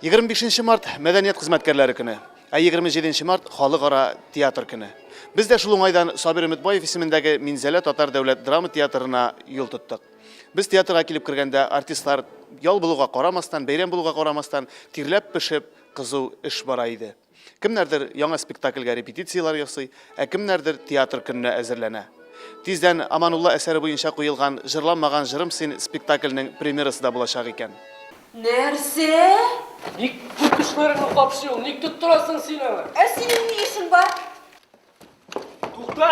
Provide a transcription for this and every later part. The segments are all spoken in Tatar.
Егерме бишенче март, мәдәният хезмәткәрләре көне. Ә егерме җиденче март, халыкара театр көне. Без дә шул уңайдан Сабир Өметбаев исемендәге Минзәлә татар дәүләт драма театрына юл тоттык. Без театрга килеп кергәндә, артистлар, ял булуга карамастан, бәйрәм булуга карамастан, тирләп-пешеп, кызу эш бара иде. Кемнәрдер яңа спектакльгә репетицияләр ясый, ә кемнәрдер театр көненә әзерләнә. Тиздән Аманулла әсәре буенча куелган Җырламаган җырым син спектакльнең премьерасы да булачак икән. Нәрсә? Ник күп кешеләреңне капшый ул? Ник тоттырасың син аны? Ә синең ни эшең бар? Тукта!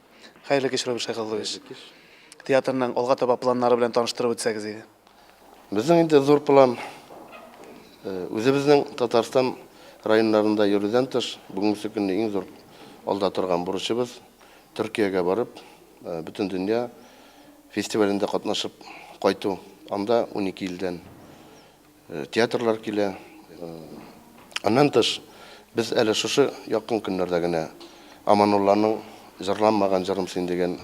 Хәерле кич, Роберт Шәйхаллович. Театрның алга таба планнары белән таныштырып үтсәгез иде. Безнең инде зур план э, үзебезнең Татарстан районнарында йөрүдән тыш, бүгенге көнне иң зур алда торган бурычыбыз Төркиягә барып, э, бөтен дөнья фестивалендә катнашып кайту. Анда 12 илдән Театрлар килә. Аннан тыш, без әле шушы якын көннәрдә генә Аманулланың Җырламаган җырым син дигән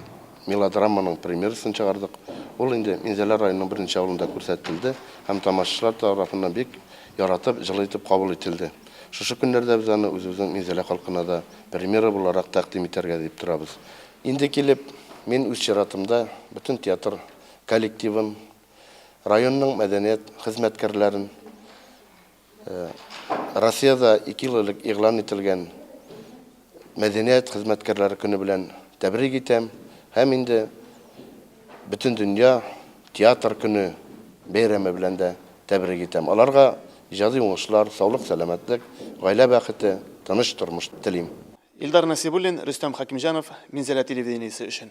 мелодраманың премьерасын чыгардык. Ул инде Минзәлә районының берничә авылында күрсәтелде һәм тамашачылар тарафыннан бик яратып, җылы итеп кабул ителде. Шушы көннәрдә без аны үзебезнең Минзәлә халкына да премьера буларак тәкъдим итәргә дип торабыз. Инде килеп, мин үз чиратымда бөтен театр коллективын, районның мәдәният хезмәткәрләрен Россиядә ике ел элек игълан ителгән мәдәният хезмәткәрләре көне белән тәбрик итәм һәм инде Бөтендөнья театр көне бәйрәме белән дә тәбрик итәм. Аларга иҗади уңышлар, саулык-сәламәтлек, гаилә бәхете, тыныч тормыш телим. Илдар Насибуллин, Рөстәм Хәкимҗанов, Минзәлә телевидениесе өчен.